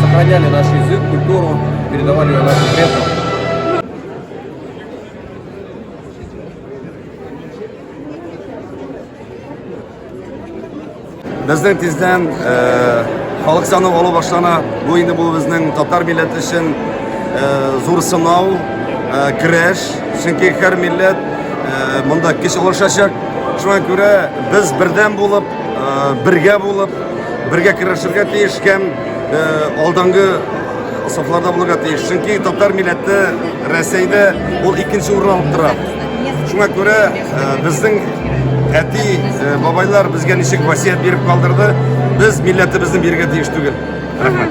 Сохраняли наш язык, культуру, передавали ее нашим предкам. Безнең тиздән халык саны алу башлана. Бу инде бу безнең татар милләте өчен зур сынау, көрәш. Чөнки һәр милләт монда көч алышачак. Шуңа күрә без бердәм булып, бергә булып Бергә көрәшергә тиеш һәм алдынгы сафларда булырга тиеш. Чөнки татар милләте Рәсәйдә ул икенче урын алып тора. Шуңа күрә безнең әти, бабайлар безгә ничек васият биреп калдырды, без милләтебезне бирергә тиеш түгел. Рәхмәт.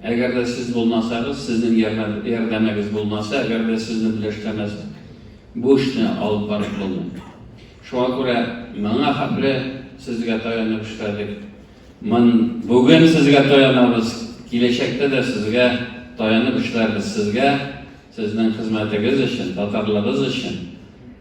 Әгәр дә сез булмасагыз, сезнең ярдәмегез булмаса, әгәр дә сезне беләштермәсәк, бу эшне алып барып булмый. Шуңа күрә моңа хәтле сезгә таянып эшләдек. Мон бүген сезгә таянабыз, киләчәктә дә сезгә таянып эшләрбез. Сезгә, сезнең хезмәтегез өчен, татарлыгыз өчен.